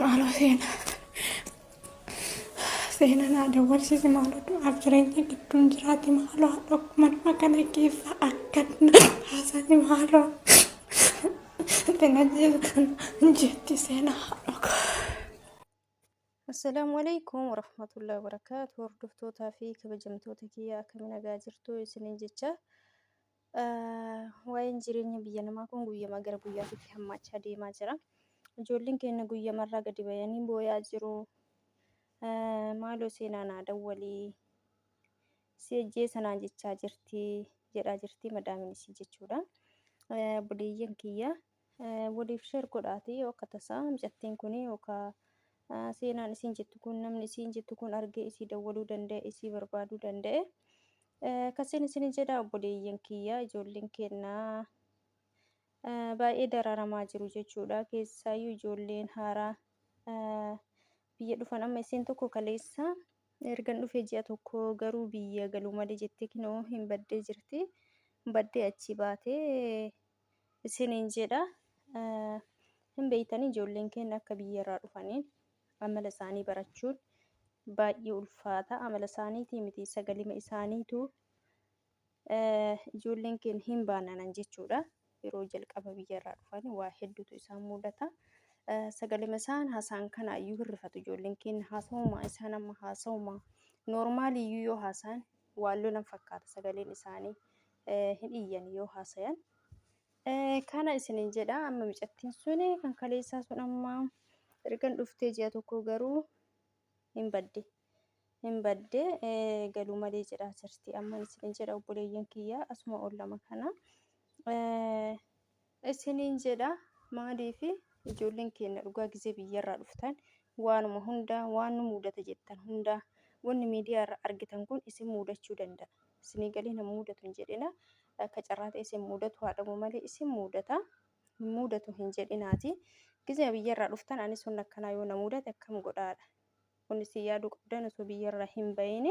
maaloo seena seena naa dawwalsiisi maaloo du'aaf jireenya gidduun jiraati maaloo haadha manuma kana keessa akka haasani maaloo seena jeetan jeetti seena haadha Assalaamu alaikum warahmatullahi wabarakaatu hordoftootaa fi kabajamtoota kiyya akkamiin nagaa jirtu isiniin jecha Waa'een jireenya biyya namaa kun guyyama gara guyyaatitti hammaachaa deemaa jira. Ijoolleen keenya guyyamarraa gadi bayanii booyaa jiru. Maaloo seenaa naa dawwalii si ajjeesa naan jechaa jirti jedhaa jirti madaamiin isii jechuudha. Buleeyyan kiyya Waliif share godhaati yoo akka tasaa micattiin kun yookaa seenaan isiin jettu kun namni isiin jettu kun argee isii dawwaluu danda'e isii barbaaduu danda'e. Kasiin isinin jedha obboleeyyan kiyya ijoolleen kennaa baay'ee dararamaa jiru jechuudha. Keessaayyuu ijoolleen haaraa biyya dhufan amma isiin tokko kaleessa ergan dhufee ji'a tokko garuu biyya galuu malee jettee kinoo hin baddee jirti. Baddee achi baatee isiniin jedha. Hin beeytanii ijoolleen keenya akka biyya irraa dhufaniin amala isaanii barachuun baay'ee ulfaata. Amala isaaniitii miti sagalima isaaniitu ijoolleen keenya hin baananan jechuudha. Yeroo jalqaba biyya irraa dhufanii waa hedduutu isaan mudata. Sagalima isaan haasaan kana iyyuu hirrifatu ijoolleen keenya haasawuma isaan amma haasawuma noormaaliyyuu yoo haasaan waan lolan fakkaata sagaleen isaanii. hin iyyan yoo haasayan. Kana isinin jedha amma micattiin sun kan kaleessaa sun amma ergan dhuftee ji'a tokko garuu hin badde. Hin badde galuu malee jedhaa jirti amma isinin jedha obboleeyyan kiyya asuma ol lama kana. Isiniin jedha maalii fi ijoolleen keenya dhugaa gizee biyyarraa dhuftan waanuma hundaa waan nu muudata jettan hundaa wanni miidiyaa irra argitan kun isin muudachuu danda'a. Isinii galee na muudatu hin jedhina. Akka carraa ta'e isin muudatu haa dhabu malee isin muudata. Hin muudatu hin jedhinaati. Gizee biyyarraa dhuftan anis wanni akkanaa yoo na muudate akkam godhaadha. Wanni isin yaaduu qabdan osoo biyyarraa hin ba'iin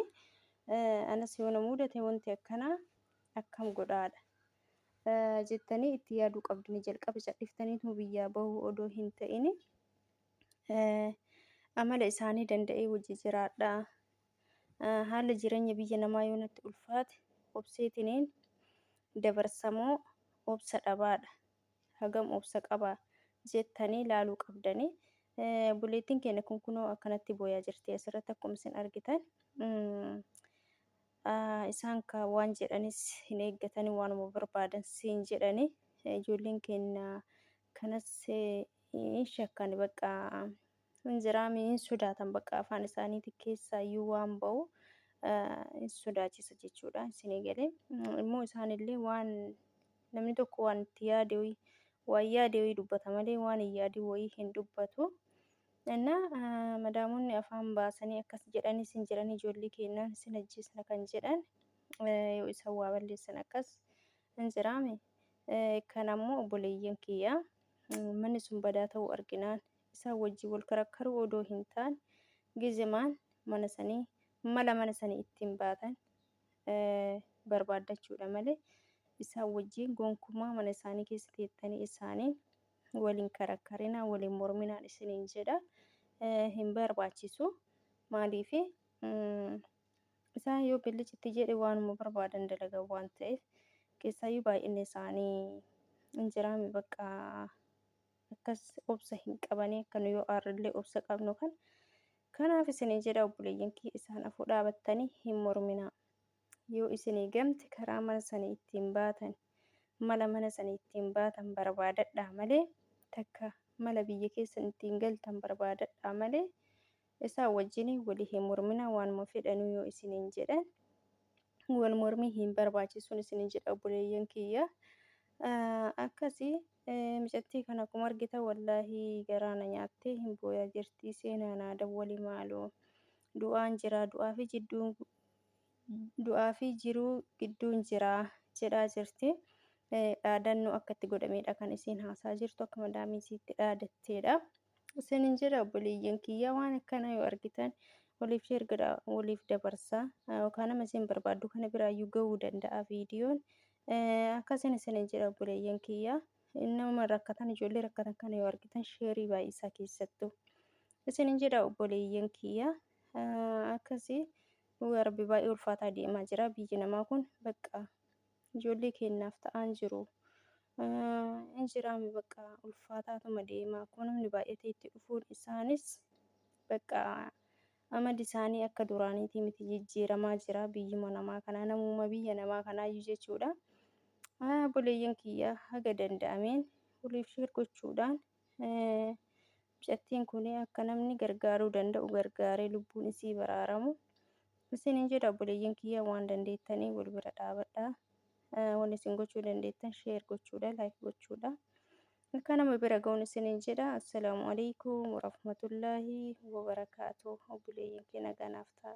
anas yoo na muudate wanti akkanaa akkam godhaadha. jettanii itti yaaduu qabdani jalqaba cadhiftaniituma biyyaa bahuu odoo hin ta'ini amala isaanii danda'ee wajji jiraadha haala jireenya biyya namaa yoo natti ulfaate obseetiniin dabarsamoo obsa dhabaadha hagam obsa qaba jettanii laaluu qabdani buleettiin keenya kun kunoo akkanatti booyaa jirti asirratti akkuma isin argitan Isaan ka waan jedhanis hin eeggatani waanuma barbaadan siin jedhani ijoolleen keenna kanas hin shakkani bakka hin jiraami hin sodaatan bakka afaan isaaniiti keessaayyuu waan ba'u hin sodaachisa jechuudha isinii galee immoo isaanillee waan namni tokko waan itti yaade wayii waan yaade wayii dubbata malee waan hin yaadin wayii hin dubbatu. Ennaa madaamonni afaan baasanii akkas jedhan isin jedhan ijoollii keennaan sin ajjeesna kan jedhan yoo isan waa balleessan akkas hin jiraame kan ammoo obboleeyyan kiyya manni sun badaa ta'uu arginaan isaan wajjin wal karakkaruu odoo hin taane gizimaan mana sanii mala mana sanii ittiin baatan barbaaddachuudha malee isaan wajjin gonkumaa mana isaanii keessa teettanii isaanii waliin karakkarinaa waliin morminaan isiniin jedha hin barbaachisu maaliif isaan yoo billicitti jedhe waanuma barbaadan dalagan waan ta'eef keessaayyuu baay'inni isaanii hin jiraame bakka akkas obsa hin qabanii akka nu yoo aarrillee obsa qabnu kan kanaaf isiniin jedha obboleeyyan kee isaan afuu dhaabattanii hin morminaa. Yoo isinii gamte karaa mana sanii ittiin baatan, mala mana sanii ittiin baatan barbaadadhaa malee, takka mala biyya keessan ittiin galtan barbaadadhaa malee, isaan wajjinii wali hin morminaa waanuma fedhanuu yoo isiniin jedhan wal mormii hin barbaachisuun isiniin jedha obboleeyyan kiyya. Akkasi micattii kana akkuma argitan wallaahii garaa na nyaattee hin booyaa jirtii seenaa naa dawwali maaloo du'aan jiraa du'aa fi jidduun du'aa fi jiruu gidduun jira jedhaa jirti. Dhaadannoo akka itti godhameedha kan isiin haasaa jirtu akka madaamii isiitti dhaadatteedha. Isin hin jira obboleeyyan kiyya waan akkana yoo argitan waliif erga waliif dabarsa yookaan nama isin barbaaddu kana biraayyuu ga'uu danda'a viidiyoon. Akkasiin isin hin jira obboleeyyan kiyya nama rakkatan ijoollee rakkatan kana yoo argitan sheerii baay'isaa keessattu. Isin hin jira obboleeyyan kiyya akkasi dhugaa rabbi baay'ee ulfaataa deemaa jira biyyi namaa kun bakka ijoollee keenyaaf ta'aan jiru hin jiraame bakka ulfaataatuma deema kun humni baay'atee itti dhufuun isaanis bakka amadi isaanii akka duraaniitii miti jijjiiramaa jira biyyuma namaa kanaa namuma biyya namaa kanaayyuu jechuudha. Boleeyyan kiyya haga danda'ameen waliif sheer gochuudhaan mucattiin kun akka namni gargaaruu danda'u gargaaree lubbuun isii baraaramu isiniin jedha obboleeyyan kiyya waan dandeettanii wal bira dhaabadha wanni isin gochuu dandeettan sheer gochuudha laayik gochuudha akka nama bira ga'uun isiniin jedha assalaamu alaikum warahmatullaahi wabarakaatu obboleeyyan kee naganaaf ta'a.